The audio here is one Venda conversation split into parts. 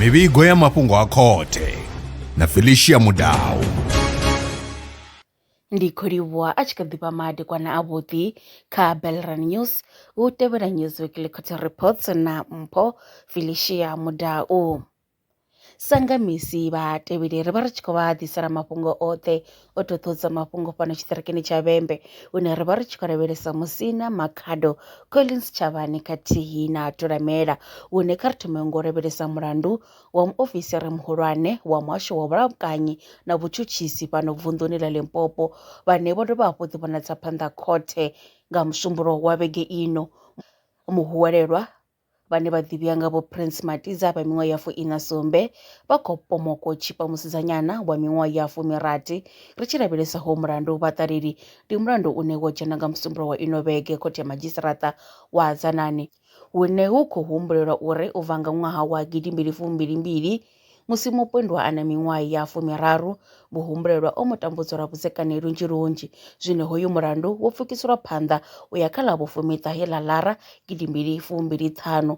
mivhigo ya mafhungo a khothe na felicia mudau ndi khou livhuwa a tshi kha ḓi vha madekwana avhuḓi kha belran news hu tevhela news weekly court reports na mpho felicia mudau Sa nga misi vhatevheli ri vha ri tshi khou vha ḓisela mafhungo oṱhe o ṱoṱhodza mafhungo fhano tshiṱirikini tsha vhembe hune ra vha ri tshi khou lavhelesa musina makhado collins tshavhani khathihi na tolamela hune kha ri thome ngo lavhelesa mulandu wa muofisiri muhulwane wa muhasho wa vhulamukanyi na vhutshutshisi fhano vunḓuni ḽa limpopo vhane vho dovha hafhu ḓi vhonadza phanḓa khothe nga musumbulo wa vhege ino muhwelelwa vhane vha ḓivhiwa nga vho Prince Matiza vha miṅwaha ya fuiṋa sumbe vha khou pomoko tshipa musidzanyana wa miṅwaha ya fumirathi ri tshi lavhelesa ho mulandu vha ṱaleli ndi mulandu une wo dzhena nga musumbulo wa ino vhege khothe ya madzhisiṱaraṱa wa Hadzanani hune hu khou humbulelwa uri u bva nga ṅwaha wa gidimbili fumbilimbili Musi mupondwa a na miṅwaha ya fumiraru, muhumbulelwa o mu tambudza lwa vhudzekani lunzhi lunzhi. Zwino hoyu mulandu wo pfukiselwa phanḓa u ya kha ḽa vhufumiṱahe ḽa Lara gidi mbili fumbili ṱhanu.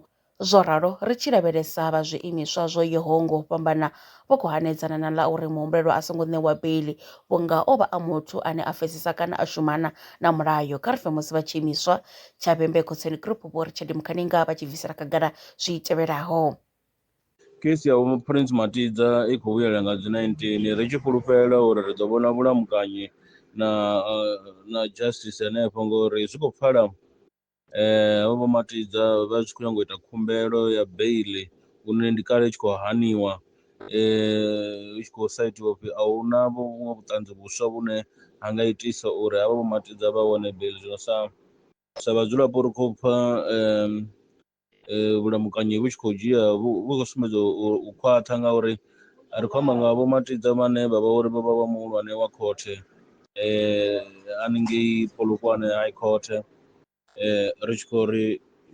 Zwo ralo, ri tshi lavhelesa vha zwiimiswa zwo yaho ngo u fhambana vho khou hanedzana na ḽa uri muhumbulelwa a songo ṋewa beiḽi vhunga o vha a muthu ane a pfesesa kana a shumana na mulayo. Kha ri pfe musi vha tshiimiswa tsha Vhembe Khotsweni Group Vho Richard Mukhaninga vha tshi bvisela khagala zwi tevhelaho. Kheisi ya Vho Prince Matidza i khou vhuyelela nga dzi 19, ri tshi fhulufhela uri ri ḓo vhona vhulamukanyi na na justice henefho ngori zwi khou pfala havho Vho Matidza vha tshi khou nyanga u ita khumbelo ya beiḽi hune ndi kale i tshi khou haniwa hu tshi khou sa itiwa upfhi a huna vhuṅwe vhuṱanzi vhuswa vhune ha nga itisa uri havha Vho Matidza vha wane beiḽi. Zwino sa sa vhadzulapo ri khou pfha eh, vhulamukanyi vhu tshi khou dzhia vhu vhu khou sumbedza u u khwaṱha ngauri ri khou amba nga vho matidza vhane vha vha uri vho vha vha muhulwane wa khothe eh, haningei polokwane high court eh, ri tshi khou ri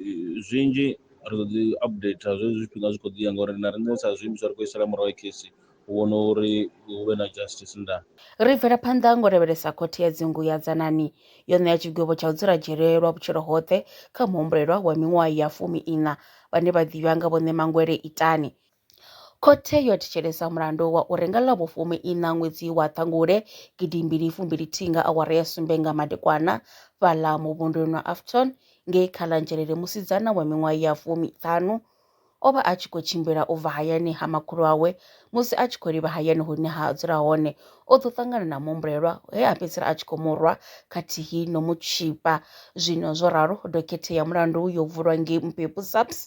eh, zwinzhi ri ḓo ḓi updater zwezwi zwifhinga zwi khou ḓi ya ngauri na riṋe sa zwiimiswa ri khou isela murahu khesi u vhona uri hu vhe na justice nda Ri bvela phanḓa ngo lavhelesa Khothe ya Dzingu ya Dzanani yo ṋea tshigwevho tsha u dzula dzhele lwa vhutshilo hoṱhe kha muhumbulelwa wa miṅwaha ya fumi-iṋa vhane vha ḓivha nga vhoṋe Mangwele Itani. Khothe yo thetshelesa mulandu wa uri nga ḽa vhufumi-iṋa ṅwedzi wa Ṱhangule gidi mbili fumbili-thihi nga awara ya sumbe nga madekwana fhaḽa muvhunduni wa Afton ngei Khalanzhelele musidzana wa miṅwaha ya fumi-ṱhanu O vha a tshi khou tshimbila u bva hayani ha makhulu awe. Musi a tshi khou livha hayani hune ha dzula hone, o ḓo ṱangana na muhumbulelwa he a fhedzisela a tshi khou mu rwa khathihi no mu tshipa. Zwino zwo ralo, dokhethe ya mulandu yo vulwa ngei Mpepu SAPS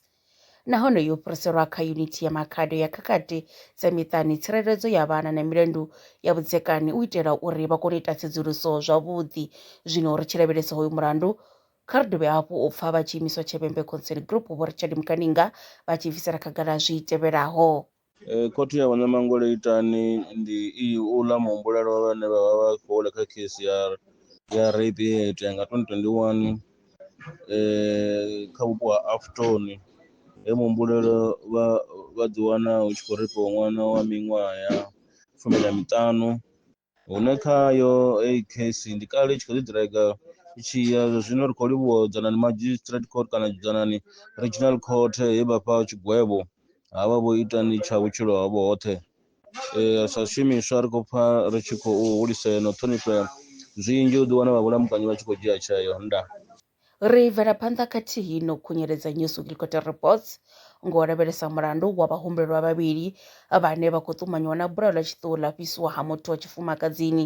nahone yo fhiriselwa kha Yunithi ya Makhado ya Khakhathi dza Miṱani, Tsireledzo ya Vhana na Milandu ya Vhudzekani u itela uri vha kone u ita tsedzuluso zwavhuḓi. Zwino ri tshi lavhelesa hoyu mulandu, Kha ri dovhe hafhu u pfa vha tshi imiswa Tshebembe Concern Group Vho Richard Mukaninga vha tshi bvisela khagala zwi tevhelaho. Khothe ya Vhuṋamangwele Itani ndi iyi, Uḽa muhumbulelwa vhane vha vha vha tshi khou wela kha khesi ya ya rape ye ya itea nga 2021 kha vhupo ha Afton he muhumbulelwa vha vha ḓiwana hu tshi khou reipiwa ṅwana wa miṅwaha ya fumi na miṱanu hune khayo eyi case ndi kale i tshi khou ḓi ḓiraiga i tshi ya zwa zwino ri khou livhuwa dzanani magistrate court kana dzanani regional court he vha fha tshigwevho ha vha vho ita ni tsha vhutshilo havho hoṱhe Eh, sa zwishumiswa ri khou pfa ri tshi khou hulisea na u ṱhonifhea zwinzhi u ḓiwana vha vhulamukanyi vha tshi khou dzhia tsheo nda Ri bvela phanḓa khathihi no khunyeledza New Supreme Court Reports ngo lavhelesa mulandu wa vhahumbelwa vhavhili vhane vha khou ṱumanyiwa na bulayo ḽa tshiṱuhu ḽa fhisiwa ha muthu wa tshifumakadzini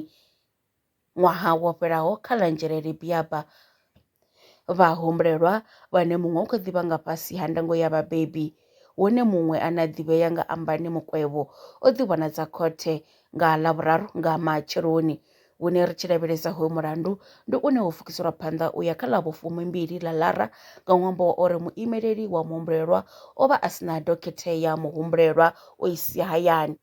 ṅwaha wo fhelaho kha ḽa Nzhelele Biaba. Vhahumbelwa vhane muṅwe u kha ḓivha nga fhasi ha ndango ya vhabebi hune muṅwe ane a ḓivhea nga Ambani Mukwevho o ḓi vhonadza khothe nga Ḽavhuraru nga matsheloni Hune ri tshi lavhelesa hoyu mulandu ndi une wo fukiselwa phanḓa u ya kha ḽa vhufumimbili ḽa Lara nga ṅwambo wa uri muimeleli wa muhumbulelwa o vha a si na dokhethe ya muhumbulelwa o i sia hayani.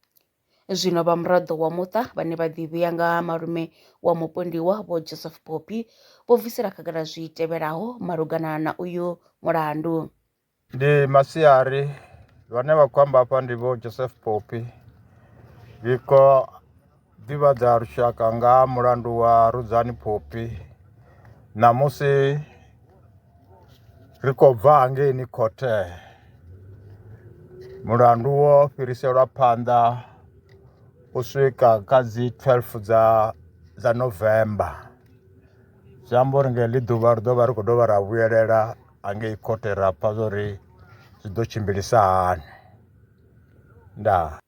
Zwino vha muraḓo wa muṱa vhane vha ḓivhea nga ha malume wa mupondiwa vho Joseph Poppy vho bvisela khagala zwi tevhelaho malugana na uyu mulandu. Ndi masiari vhane vha khou amba hafha ndi vho Joseph Poppy ri kho ḓivhadza lushaka nga mulandu wa Rudzani Poppy ṋamusi ri khou bva hangeini khothe mulandu wo fhiriselwa phanḓa u swika kha dzi 12 dza dza November zwi amba uri nga heḽi ḓuvha ri ḓo vha ri khou dovha ra vhuyelela hangei khothe ra pfha zwa uri zwi ḓo tshimbilisa hani ndaa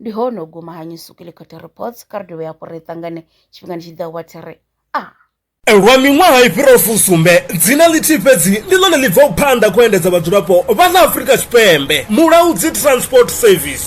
ndi hone u guma ha nyusukile khothe reports kha ri dovhe hafhu ri ṱangane tshifhingani tshi ḓaho wa thi ri a ah. lwa miṅwaha i fhiraho fusumbe dzina ḽithihi fhedzi ndi ḽone ḽi bvaho phanḓa khou endedza vhadzulapo vha ḽa afurika tshipembe mulaudzi transport service